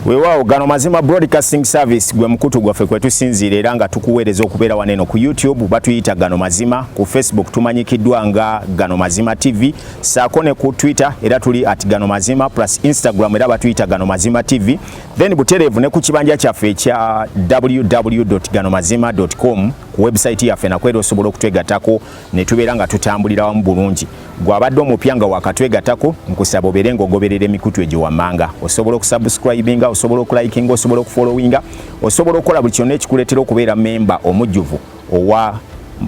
Wewawo gano mazima broadcasting service gwe mkutu gwa fekwe tu sinzi lera nga tukuwereza okubera waneno ku YouTube batu yita gano mazima ku Facebook tumanyi kidwa nga gano mazima TV sakone ku Twitter era tuli at gano mazima plus Instagram era batu yita gano mazima TV then butereevu ne ku kibanja kyaffe ekya www.ganomazima.com ku website yaffe nakwera osobola okutwegatako ne tubeera nga tutambulira wamu bulungi gwabadde omupya nga wakatwegatako nkusaba obeere nga ogoberera emikutu egyo wammanga osobola okusubscribinga osobola okulikinga osobola okufollowinga osobola okukola buli kyonna ekikuleetera okubeera memba omujjuvu owa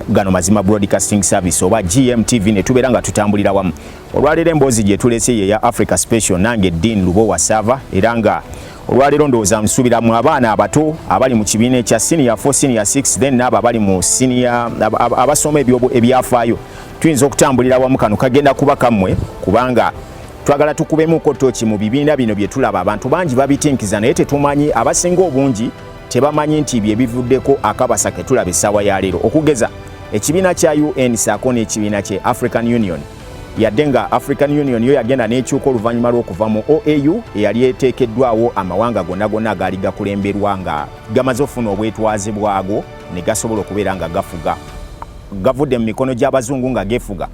gano mazima broadcasting service oba gmtv ne tubeera nga tutambulira wamu Olwaleero emboozi gye tulese ye ya Africa Special nange Dean Lubowa Sava era nga olwaleero ndowooza nsuubira mu abaana abato abali mu kibiina ekya senior 4 senior 6 then n'abo abali mu senior abasoma ebyafaayo tuyinza okutambulira wamu kano kagenda kuba kammwe kubanga twagala tukubemuko toki mu bibiina bino bye tulaba abantu bangi babitinkiza naye tetumanyi abasinga obungi tebamanyi nti bye bivuddeko akabasa ke tulaba essaawa ya leero okugeza ekibiina kya un saako n'ekibiina kye african union yadde nga african union yo yagenda n'ekyuka oluvannyuma lw'okuva mu oau eyali eteekeddwawo amawanga gonna gonna agaali gakulemberwa nga gamaze okufuna obwetwaze bwago ne gasobola okubeera nga gafuga gavudde mu mikono gy'abazungu nga gefuga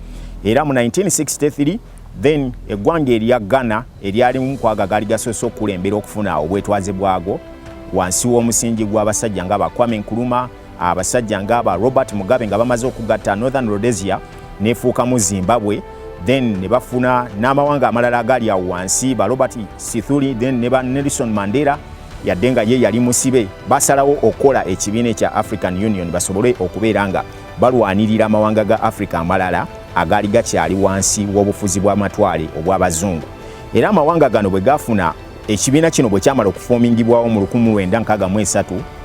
era mu 1963 then eggwanga erya ghana eryalimu kwaga gaali gasoose okukulembera okufuna obwetwaze bwago wansi w'omusingi gw'abasajja nga bakwame nkuluma abasajja ngaaba robert mugabe nga bamaze okugatta northern rhodesia nefuukamu zimbabwe then ne bafuna n'amawanga amalala agali awo wansi ba robert sithuli then ne ba nelson mandela yadde nga ye yali musibe basalawo okukola ekibiina ekya african union basobole okubeera nga balwanirira amawanga ga africa amalala agaali gakyali wansi w'obufuzi bw'amatwale obw'abazungu era amawanga gano bwe gafuna Ekibiina kino bwe kyamala okufoomingibwawo mu 1963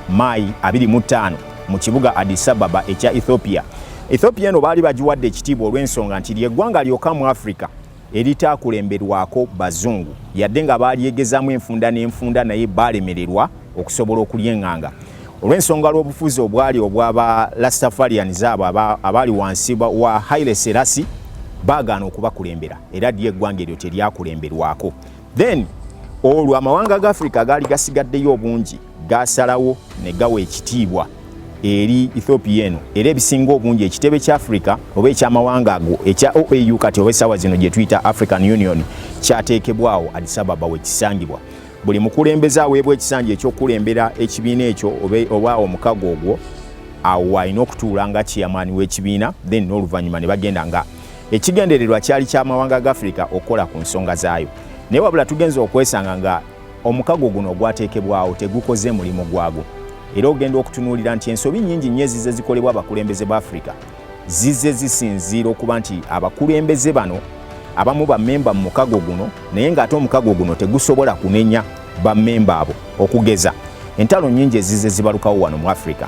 Maayi 25 mu kibuga Addis Ababa ekya Ethiopia, Ethiopia eno baali bagiwadde ekitiibwa olw'ensonga nti ly'eggwanga lyokka mu Afrika eritaakulemberwako Bazungu yadde nga baalyegezaamu enfunda n'enfunda naye baalemererwa okusobola okulyenganga olw'ensonga lw'obufuzi obwali obwaba Rastafarians abo abaali wansi wa Haile Selassie baagaana okubakulembera era lyo eggwanga eryo teryakulemberwako. then olwo amawanga ga africa agaali gasigaddeyo obungi gaasalawo ne gawa ekitiibwa eri ethiopia eno era ebisinga obungi ekitebe kya africa oba ekyamawanga ago ekya oau kati oba essaawa zino gye tuyita african union kyateekebwawo adisababa wekisangibwa buli mukulembeze aweebwa ekisanja ekyokukulembera ekibiina ekyo oba omukago ogwo awo alina okutuula nga chairman w'ekibiina then n'oluvannyuma ne bagenda nga Ekigendererwa kyali kya mawanga ga Afirika okukola ku nsonga zaayo, naye wabula tugenze okwesanga nga omukago guno ogwateekebwawo tegukoze mulimu gwagwo era ogenda okutunuulira nti ensobi nnyingi nnyo ezize zikolebwa abakulembeze ba Afirika zize zisinziira okuba nti abakulembeze bano abamu bammemba mu mukago guno naye ng'ate omukago guno tegusobola kunenya bammemba abo okugeza entalo nnyingi ezize zibalukawo wano mu afirika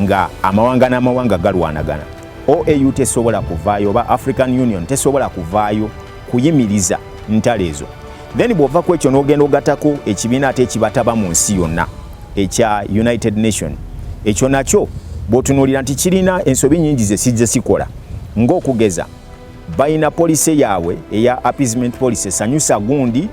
nga amawanga n'amawanga galwanagana OAU tesobola kuvaayo oba African Union tesobola kuvaayo kuyimiriza ntalo ezo then bw'ova ku ekyo n'ogenda ogatako ekibiina ate ekibataba mu nsi yonna ekya United Nation ekyo nakyo bw'otunuulira nti kirina ensobi nyingi ze kijja sikola ng'okugeza balina policy yaabwe eya appeasement policy sanyusa gundi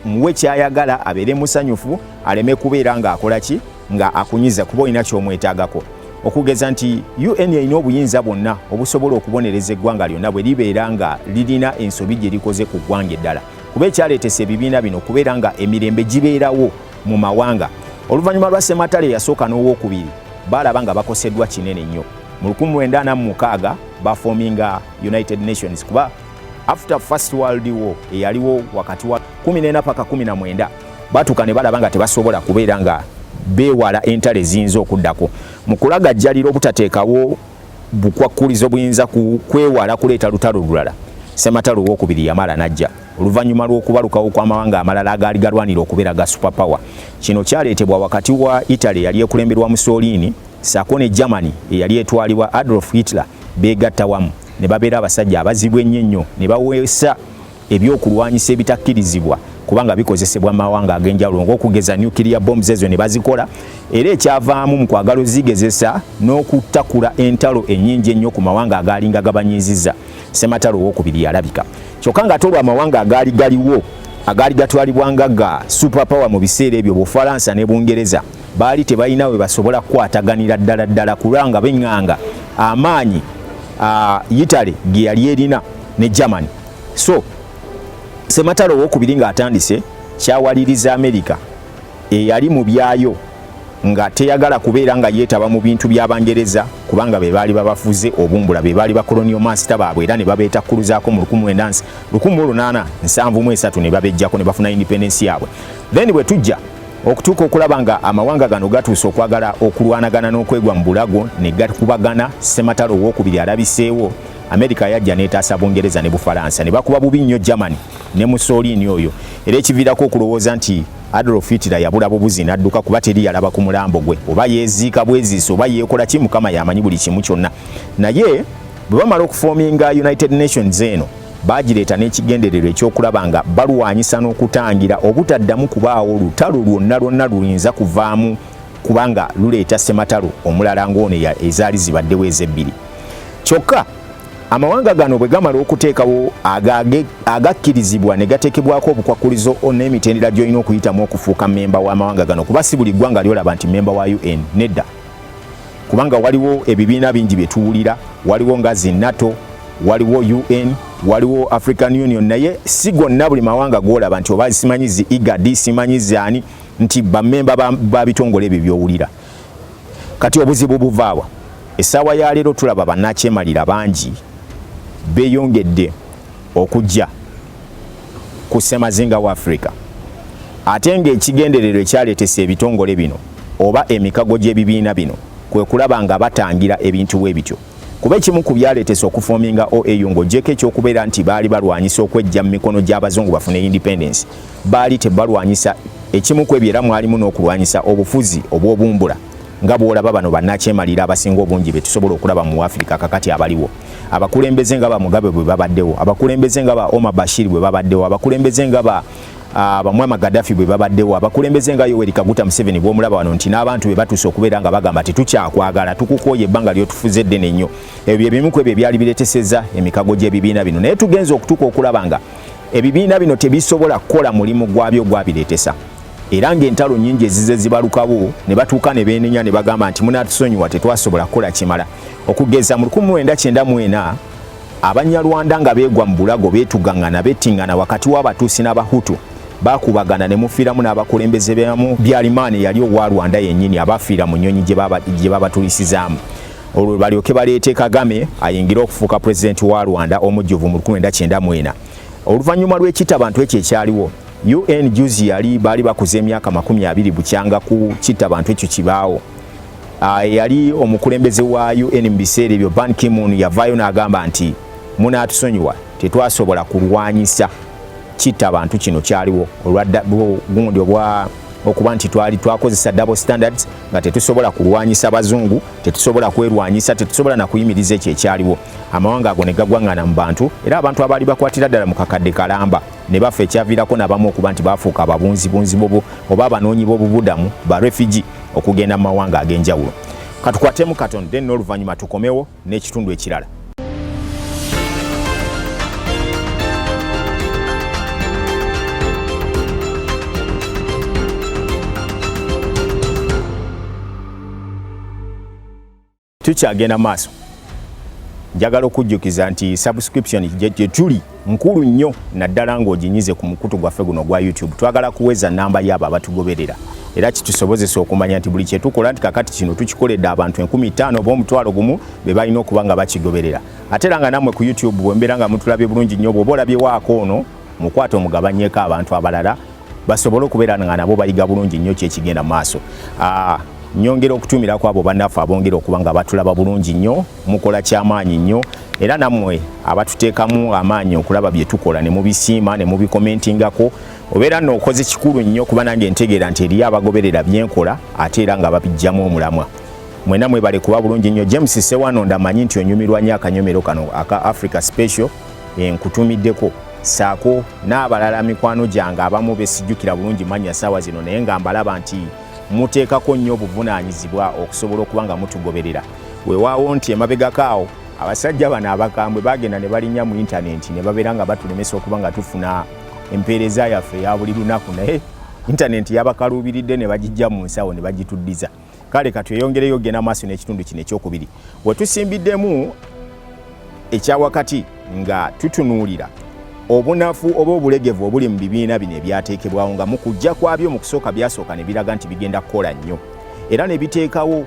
muwe kyayagala abeere musanyufu aleme kubeera ng'akola ki nga akunyiza kuba olina kyomwetagako okugeza nti un erina obuyinza bwonna obusobola okubonereza eggwanga lyonna bwe libeera nga lirina ensobi gye likoze ku ggwanga eddala kuba ekyaleetesa ebibiina bino kubeera nga emirembe gibeerawo mu mawanga oluvannyuma lwa sematale eyasooka n'owokubiri baalaba nga bakoseddwa kinene nnyo mu 1946 bafoominga united nations kuba after first world war eyaliwo wakati wa 14 paka 19 batuuka ne balaba nga tebasobola kubeera nga beewala entalo eziyinza okuddako mu kulagajjalira obutateekawo bukwakkulizo buyinza kwewala kuleeta lutalo lulala sematalo owokubiri yamala najja oluvannyuma lw'okubalukawo kw'amawanga amalala agaali galwanira okubeera ga super power kino kyaleetebwa wakati wa italy eyali ekulemberwa mussolini saako ne germany eyali etwalibwa adolf hitler beegatta wamu ne babeera abasajja abazibu ennyo ennyo ne baweesa eby'okulwanyisa ebitakkirizibwa kubanga bikozesebwa mawanga ag'enjawulo ng'okugeza nuclear bombs ezo ne bazikola era ekyavaamu mu kwagala ozigezesa n'okutakula entalo ennyingi ennyo ku mawanga agaalinga gabanyiiziza sematalo owokubiri yalabika kyokka ng'ate olwo amawanga agaali galiwo agaali gatwalibwanga ga super power mu biseera ebyo bufalansa ne bungereza baali tebalina we basobola kukwataganira ddala ddala kulanga benganga amaanyi yitale ge yali erina ne germany so sematalo owokubiri ng'atandise kyawaliriza amerika eyali mu byayo nga teyagala kubeera nga yeetaba mu bintu by'abangereza kubanga be baali babafuze obumbula be baali bakoloniyo maasita baabwe era ne babeetakkuluzaako mu 1873 ne babejjako ne bafuna independensi yaabwe then bwe tujja okutuuka okulaba nga amawanga gano gatuuse okwagala okulwanagana n'okwegwa mu bulago ne gakubagana sematalo owokubiri alabiseewo Amerika yajja n'etaasa Bungereza ne Bufalansa ne bakuba bubi nnyo Germany ne Mussolini oyo era ekiviirako okulowooza nti Adolf Hitler yabula bubuzi n'adduka kuba teri yalaba ku mulambo gwe oba yeeziika bweziisi oba yeekola ki Mukama yamanyi buli kimu kyonna naye bwe bamala okufoominga United Nations eno baagireeta n'ekigendererwa ekyokulaba nga balwanyisa n'okutangira obutaddamu kubaawo lutalo lwonna lwonna luyinza kuvaamu kubanga luleeta ssematalo omulala ng'ono ezaali zibaddewo ez'ebbiri kyokka amawanga gano bwe gamala okuteekawo agakkirizibwa ne gateekebwako obukwakkulizo n'emitendera gy'olina okuyitamu okufuuka mmemba w'amawanga gano kuba si buli ggwanga lyolaba nti mmemba wa un nedda kubanga waliwo ebibiina bingi bye tuwulira waliwo nga zi nato waliwo un waliwo african union naye si gonna buli mawanga gwolaba nti oba simanyi zi igadi simanyi zaani nti bamemba babitongole ebyo byowulira kati obuzibu buvaawa essaawa ya leero tulaba bannakyemalira bangi beeyongedde okujja ku ssemazinga wa afirika ate ng'ekigendererwa ekyaleetesa ebitongole bino oba emikago gy'ebibiina bino kwe kulaba nga batangira ebintu bwe bityo kuba ekimu ku byaleetesa okufoominga oau ng'ogyeko ekyokubeera nti baali balwanyisa okwejja mu mikono gy'abazungu bafune independence Baali tebalwanyisa ekimu ku ebyo era mwalimu n'okulwanyisa obufuzi obw'obumbula nga bw'olaba bano bannakyemalira abasinga obungi be tusobola okulaba mu Afirika kakati abaliwo abakulembeze nga ba Mugabe bwe babaddewo abakulembeze nga ba Omar Bashir bwe babaddewo abakulembeze nga ba Ah, bamwama Gaddafi bwe babaddewo abakulembeze nga Yoweri Kaguta Museveni bw'omulaba wano nti n'abantu be batuuse okubeera nga bagamba tetukyakwagala tukukooye ebbanga lyotufuze eddene nnyo ebyo bye bimu ku ebyo ebyali bireteseza emikago gy'ebibiina bino naye tugenze okutuuka okulaba nga ebibiina bino tebisobola kukola mulimu gwabyo gwabireetesa era ng'entalo nnyingi ezize zibalukawo ne batuuka ne beenenya ne bagamba nti munatusonyiwa tetwasobola kukola kimala okugeza mu 1994 abanyarwanda nga beegwa mu bulago beetugaŋŋana bettingana wakati w'abatuusi n'abahutu bakubagana ne mufiiramu n'abakulembeze bamu byalimaani yali owa rwanda yennyini abafiira mu nnyonyi gye babatulisizaamu olwo balyoke baleete kagame ayingire okufuuka pulezidenti wa rwanda omujjuvu mu 1994 oluvannyuma lw'ekitta bantu ekyo ekyaliwo un juzi yali baali bakuza emyaka makumi abiri bukyanga ku kitta bantu ekyo kibaawo ah, eyali omukulembeze wa un mu biseera ebyo ban kimun yavaayo n'agamba nti munaatusonyiwa tetwasobola kulwanyisa kitta bantu kino kyaliwo olwa gundi obwa okuba nti twali twakozesa double standards nga tetusobola kulwanyisa bazungu tetusobola kwerwanyisa tetusobola nakuyimiriza ekyo ekyaliwo amawanga ago ne gagwangana mu bantu era abantu abaali bakwatira ddala mu kakadde kalamba ne bafa ekyaviirako nabamu okuba nti baafuuka ababunzibunzi bobu oba abanoonyi b'obubudamu ba refugee okugenda mu mawanga ag'enjawulo katukwatemu katon then n'oluvannyuma tukomewo n'ekitundu ekirala. tukyagenda maaso njagala okujjukiza nti subscription gyetuli nkulu nnyo naddala ng'oginyize ku mukutu gwaffe guno ogwa youtube twagala kuweza namba yaabo abatugoberera era kitusobozesa okumanya nti buli kyetukola nti kakati kino tukikoledde abantu enkumi ttaano oba omutwalo gumu be balina okuba nga bakigoberera ate era nga nammwe ku youtube bwembeera nga mutulabye bulungi nnyo bwoba olabyewaako ono mukwate omugabanyeko abantu abalala basobole okubeera nga nabo bayiga bulungi nnyo kyekigenda mu maaso ah, nyongera okutumira kwabo bannaffe abongera okuba nga batulaba bulungi nnyo mukola kyamaanyi nnyo era nammwe abatuteekamu amaanyi okulaba bye tukola ne mubisiima ne mubikomentingako obeera nno okoze kikulu nnyo kuba nange ntegeera nti eriyo abagoberera byenkola ate era nga babijjamu omulamwa mwena mwebale kuba bulungi nnyo james sewano ndamanyi nti onyumirwa nnyo akanyomero kano aka africa special enkutumiddeko saako n'abalala mikwano gyange abamu besijjukira bulungi mannya saawa zino naye nga mbalaba nti muteekako nnyo obuvunaanyizibwa okusobola okuba nga mutugoberera wewaawo nti emabegako awo abasajja bano abakambwe bagenda ne balinya mu intanenti ne babeera nga batulemesa okuba nga tufuna empeereza yaffe eya buli lunaku naye intanenti yabakaluubiridde ne bagijja mu nsawo ne bagituddiza kale katweyongereyo ogenda maaso n'ekitundu kino ekyokubiri wetusimbiddemu ekyawakati nga tutunuulira obunafu oba obulegevu obuli mu bibiina bino ebyateekebwawo nga mu kujja kwabyo mu kusooka byasooka ne biraga nti bigenda kukola nnyo era ne biteekawo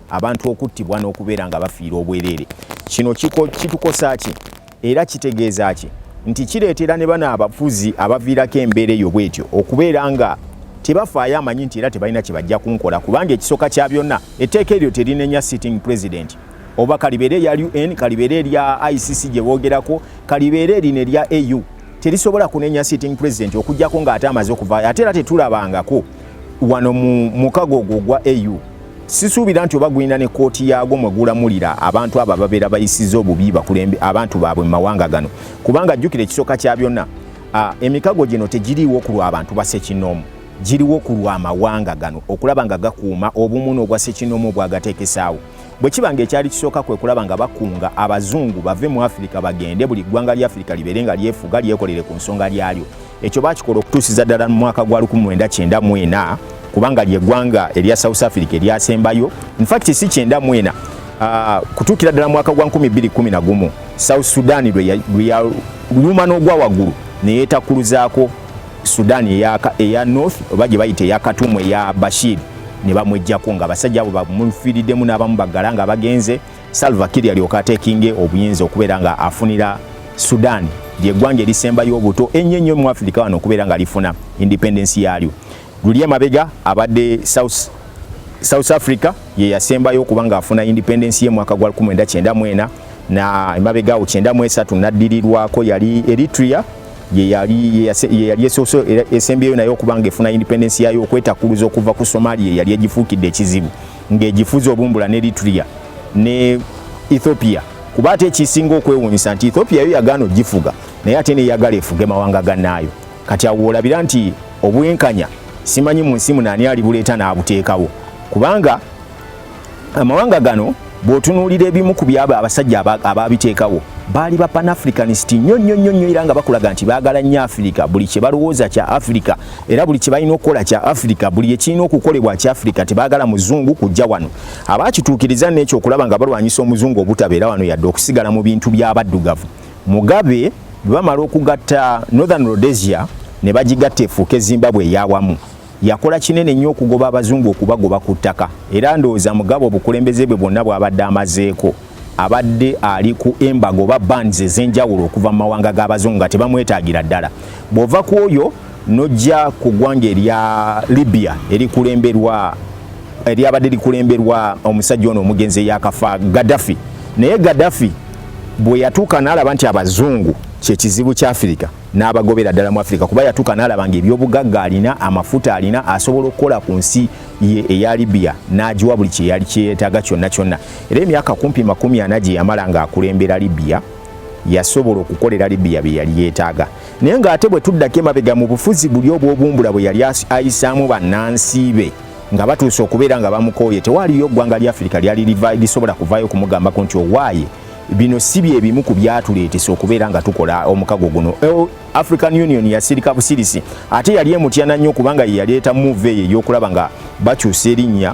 abantu okuttibwa n'okubeera nga bafiira obwereere kino kitukosa ki era kitegeeza ki nti kireetera ne bano abafuzi abaviirako embeera eyo bwetyo okubeera nga tebafaayo amanyi nti era tebalina kye bajja kunkola kubanga ekisooka kya byonna etteeka eryo terinenya sitting president oba kalibeere erya un kalibeere erya icc gye boogerako kalibeere erino erya au terisobola kunenya sitting president okugyako ng'ate amaze okuvaayo ate era tetulabangako wano mu mukago ogwo ogwa au Sisuubira nti oba gulina ne kkooti yaagwo mwe gulamulira abantu abo ababeera bayisiza obubi bakulembe abantu baabwe mu mawanga gano kubanga jjukira ekisooka kya byonna emikago gino tegiriiwo ku lw'abantu basekinoomu giriwo ku lw'amawanga gano okulaba nga gakuuma obumu n'obwa sekinoomu obwagateekesaawo bwe kiba nga ekyali kisooka kwe kulaba nga bakunga abazungu bave mu afirika bagende buli ggwanga lya afirika libeere nga lyefuga lyekolere ku nsonga lyalyo Ekyo baakikola okutuusiza ddala mu mwaka gwa 1994 kubanga lye ggwanga erya South Africa eryasembayo infact si kyenda mwena ah, kutuukira ddala mwaka gwa 2011 South Sudan lweyaluma n'ogwa waggulu neyetakuluzaako Sudan eya North oba gye bayita eya Katumu eya Bashir ne bamwejjako nga abasajja abo bamufiriddemu n'abamu baggala nga bagenze Salva Kiir yalyoka ateekinge obuyinza okubeera nga afunira Sudan ly'eggwanga erisembayo obuto ennyo ennyo mu Afirika wano okubeera nga lifuna independence yaalyo. Luli emabega abadde South South Africa ye yasembayo okuba ng'afuna independence ye mwaka gwa 1994 na emabega awo 93 naddirirwako yali Eritrea ye yali ye yali esoso esembyeyo nayo okuba ng'efuna independence yaayo okwetakuluza okuva ku Somalia yali egifuukidde ekizibu. ng'egifuzi obumbula ne Eritrea ne Ethiopia kuba ate ekisinga okwewuunyisa nti Ethiopia yo yagaana ogifuga naye ate neyagala efuge mawanga gannaayo kati awo olabira nti obwenkanya simanyi mu nsi munaani alibuleeta n'abuteekawo kubanga amawanga gano bw'otunuulira ebimu ku byabo abasajja abaabiteekawo baali ba panafricanist nnyo nnyo nnyo nnyo era nga bakulaga nti baagala nnyo afirika buli kye balowooza kya afirika era buli kyebalina okukola kya africa buli ekirina okukolebwa kya africa tebagala muzungu kujja wano abakituukiriza nekyo okulaba nga balwanyisa omuzungu obutabeera wano yadde okusigala mu bintu byabaddugavu mugabe bwebamala okugatta northern rhodesia ne bagigatta efuuke zimbabwe eyawamu yakola kinene nnyo okugoba abazungu okubagoba ku ttaka era ndowooza mugabe obukulembeze bwe bwonna bwabadde amazeeko abadde ali ku embaga oba bands ez'enjawulo okuva mu mawanga g'abazungu nga tebamwetaagira ddala bw'ova ku oyo n'ojja ku ggwanga erya libya erikulemberwa eryabadde likulemberwa omusajja ono omugenzi eyakafa gaddafi naye gaddafi bwe yatuuka n'alaba nti abazungu kyekizibu kya afirika n'abagobera ddala mu afirika kuba yatuuka n'alaba nga ebyobugagga alina amafuta alina asobola okukola ku nsi ye eya libya n'agiwa buli kyeyali kyeyetaaga kyonna kyonna Era emyaka kumpi makumi ana gye yamala ng'akulembera Libya yasobola okukolera Libya bye yali yeetaaga. Naye ng'ate bwe tuddako emabega mu bufuzi buli obw'obumbula bwe yali ayisaamu bannansi be nga batuuse okubeera nga bamukooye tewaliyo ggwanga lya Afirika lyali lisobola kuvaayo okumugambako nti owaaye bino si bye bimu ku byatuleetesa okubeera nga tukola omukago guno african union yasirika busirisi ate yali emutyana nnyo kubanga ye yaleeta muuva eyo ey'okulaba nga bakyusa erinnya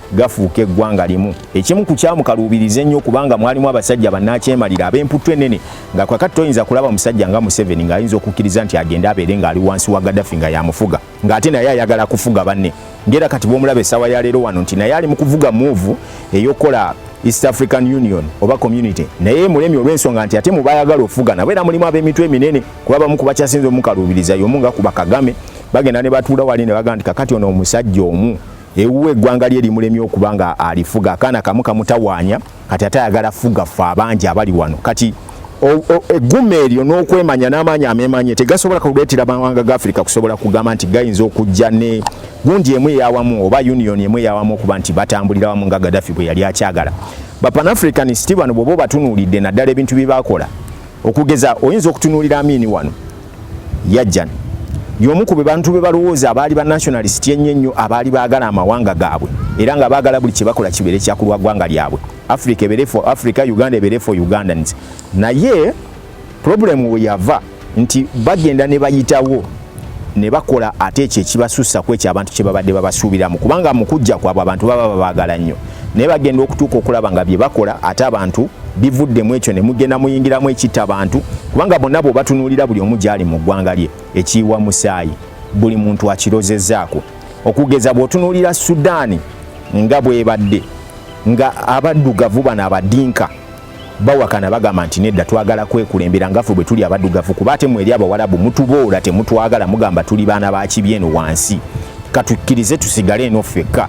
gafuuka eggwanga limu ekimu ku kyamukaluubiriza ennyo kubanga mwalimu abasajja bannakyemalira ab'emputtu ennene nga kwakati toyinza kulaba musajja nga museveni ng'ayinza okukkiriza nti agende abeere ng'ali wansi wa gadafi nga yamufuga ng'ate naye ayagala kufuga banne ngera kati bwomulaba essaawa ya leero wano nti naye ali mu kuvuga muuvu ey'okukola east african union oba community naye mulemi olw'ensonga nti ate mubayagala okufuga nabo era mulimu ab'emitwe eminene kuba bamu ku bakyasinza omukaluubiriza y'omu nga kuba kagame bagenda ne batuula wali ne bagamba nti kakati ono omusajja omu ewuwe eggwanga lye limulemye okuba nga alifuga akaana kamu kamutawaanya kati ate ayagala fuga ffe abangi abali wano kati egguma eryo n'okwemanya n'amaanyi amemanye tegasobola kuleetera mawanga ga afirika kusobola kugamba nti gayinza okujja ne gundi emu eyawamu oba union emu eyawamu okuba nti batambulira wamu nga gadafi bwe yali akyagala bapanafricanist bano bwoba obatunuulidde naddala ebintu bye bakola okugeza oyinza okutunuulira amiini wano Yajjan y'omu ku bebantu be balowooza abaali ba nationalist ennyo ennyo abaali baagala amawanga gaabwe era nga baagala buli kye bakola kibeere kya kulwa ggwanga lyabwe africa ebeere for africa uganda ebeere for ugandans naye problemu we yava nti bagenda ne bayitawo ne bakola ate ekyo ekibasussa ku ekyo abantu kye babadde babasuubiramu kubanga mu kujja kwabwe abantu baba babaagala nnyo naye bagenda okutuuka okulaba nga bye bakola ate abantu bivudde mu ekyo ne mugenda muyingiramu ekitta bantu kubanga bonna bwe batunuulira buli omu gyali mu ggwanga lye ekiyiwa musaayi buli muntu akirozezaako okugeza bw'otunuulira sudaani nga bwebadde nga abaddugavu bano abadinka bawakana bagamba nti nedda twagala kwekulembera ngafe bwe tuli abaddugavu kuba ate mweri abawalabu mutuboola temutwagala mugamba tuli baana bakibi eno wansi katukkirize tusigale eno ffekka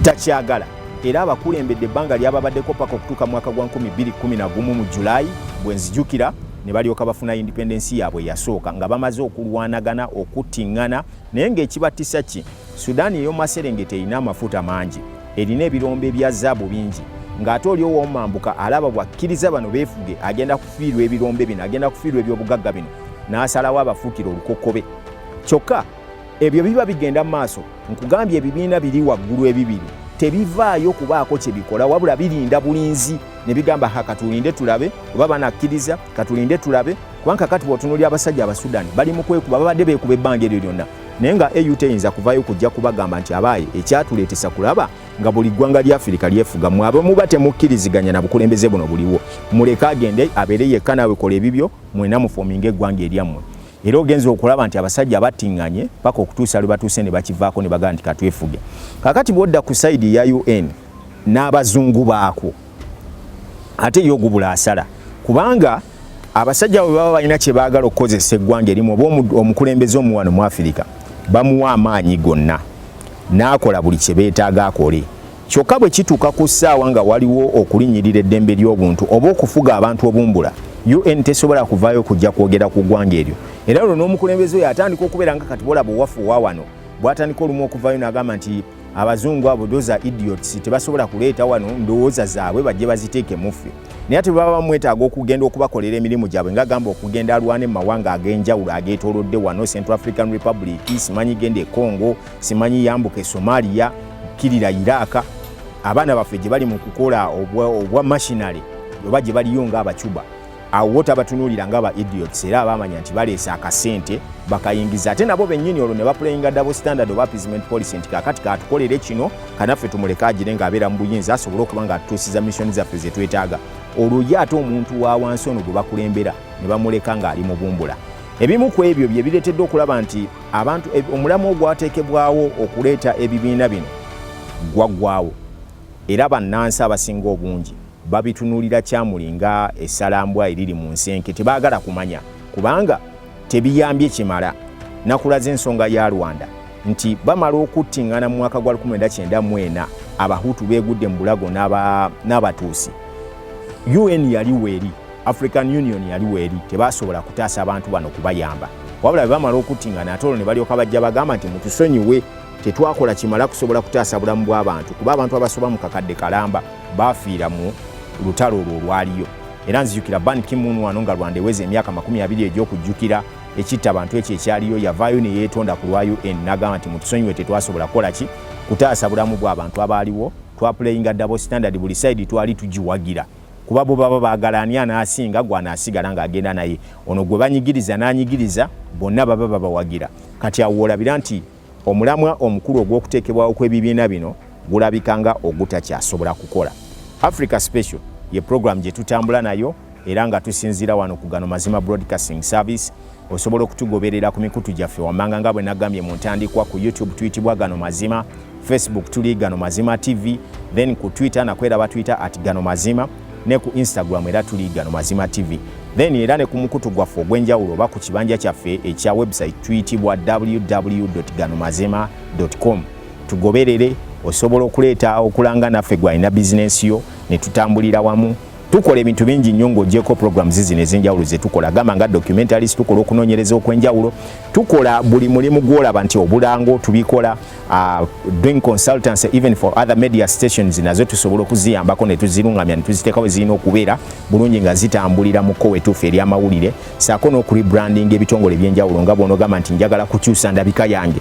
takyagala era abakulembedde ebbanga lyababaddeko paka okutuuka mwaka gwa 2011 mu July bwenzijukira ne balyoka bafuna independence yaabwe yasooka nga bamaze okulwanagana okuttingana naye ng'ekibattisa ki Sudan ey'omu maserengeta erina amafuta mangi erina ebirombe bya zaabu bingi ng'ate oli owomambuka alaba bwakkiriza bano beefuge agenda kufiirwa ebirombe bino agenda kufiirwa ebyobugagga bino n'asalawo abafuukira olukokobe kyokka ebyo biba bigenda mu maaso nkugambye ebibiina biri waggulu ebibiri tebivaayo kubaako kye bikola wabula birinda bulinzi ne bigamba ha katulinde tulabe oba banakkiriza katulinde tulabe kubanga kati bwotunuli abasajja abasudani bali mu kwekuba babadde beekuba ebbanga eryo lyonna naye nga aut eyinza kuvayo kujja kubagamba nti abaaye ekyatuleetesa kulaba nga buli ggwanga lya afirika lyefuga mwe abe muba temukkiriziganya na bukulembeze buno buliwo muleke agende abeere yekka naawe kola ebibyo mwena mufominga eggwanga eryammwe era ogenze okulaba nti abasajja battinganye paka okutuusa lwe batuuse ne bakivaako ne bagamba nti katwefuge kakati bwodda ku saidi ya un n'abazungu baakwo ate ye ogubula asala kubanga abasajja bwe baba balina kye baagala okukozesa eggwanga erimu oba omukulembeze omuwano mu afirika bamuwa amaanyi gonna n'akola buli kye beetaaga akole Kyokka bwe kituuka ku ssaawa nga waliwo okulinnyirira eddembe ly'obuntu oba okufuga abantu obumbula, UN tesobola kuvaayo kujja kwogera ku ggwanga eryo. Era olwo n'omukulembeze oyo atandika okubeera nga kati bolaba owafu wa wano bw'atandika olumu okuvaayo n'agamba nti abazungu abo doza idiots tebasobola kuleeta wano ndowooza zaabwe bajje baziteeke muffe naye ate baba bamwetaaga okugenda okubakolera emirimu gyabwe nga gamba okugenda alwane mu mawanga ag'enjawulo ageetoolodde wano central african republic simanyi genda e congo simanyi yambuka e somalia kirira iraka abaana baffe gye bali mu kukola obwa mashinale oba gye baliyo ngaabacuba awo wota batunuulira nga ba idiots era abamanya nti baleese akasente bakayingiza ate nabo bennyini olwo ne bapulayinga double standard oba appeasement policy nti kakati katukolere kino kanaffe tumuleke agire ng'abeera mu buyinza asobole okuba nga atutuusiza missoni zaffe ze twetaaga olwo ye ate omuntu wa wansi ono gwe bakulembera ne bamuleka ng'ali mu bumbula ebimu ku ebyo bye bireetedde okulaba nti abantu omulamwa ogwateekebwawo okuleeta ebibiina bino gwaggwawo era bannansi abasinga obungi babitunulira kyamuli nga esalambwa eriri mu nsenke tebaagala kumanya kubanga tebiyambye kimala nakulaza ensonga ya rwanda nti bamala okuttingana mu mwaka gwa 1994 abahutu beegudde mu bulago n'abatuusi un yali weeri African Union yali weeri tebasobola kutaasa abantu bano kubayamba wabula bwe bamala okuttingana ate olwo ne balyoka bajja bagamba nti mutusonyiwe tetwakola kimala kusobola kutaasa bulamu bw'abantu kuba abantu abasoba mu kakadde kalamba baafiira mu lutalo olwo olwaliyo era nzijukira ban kimun wano nga rwanda eweza emyaka makumi abiri egy'okujjukira ekitta bantu ekyo ekyaliyo yavaayo ne yeetonda ku lwa un nagamba nti mutusonyiwe tetwasobola kukola ki kutaasa bulamu bw'abantu abaaliwo twapuleyinga dabo standard buli sayidi twali tugiwagira kuba bo baba baagala ani anaasinga gwanaasigala ng'agenda naye ono gwe banyigiriza n'anyigiriza bonna baba babawagira kati awo olabira nti omulamwa omukulu ogw'okuteekebwawo kw'ebibiina bino gulabika nga ogutakyasobola kukola africa special ye program gye tutambula nayo era nga tusinziira wano ku gano mazima broadcasting service Osobola okutugoberera ku mikutu gyaffe wammanga nga bwe nagambye mu ntandikwa ku YouTube tuyitibwa Gano Mazima, Facebook tuli Gano Mazima TV, then ku Twitter nakwo era batuyita at Gano Mazima ne ku Instagram era tuli Gano Mazima TV. Then era ne ku mukutu gwaffe ogw'enjawulo oba ku kibanja kyaffe ekya website tuyitibwa www.ganomazima.com. Tugoberere osobola okuleeta okulanga naffe gwalina bizinensi yo ne tutambulira wamu tukola ebintu bingi nnyo ng'ogyeko programs zino ez'enjawulo ze tukola gamba nga documentaries tukola okunoonyereza okw'enjawulo tukola buli mulimu gw'olaba nti obulango tubikola uh, doing consultancy even for other media stations nazo tusobola okuziyambako ne tuzirungamya ne tuziteekawo zirina okubeera bulungi nga zitambulira mu kkowa etuufu ery'amawulire saako n'okuribrandinga ebitongole eby'enjawulo nga bw'onogamba nti njagala kukyusa ndabika yange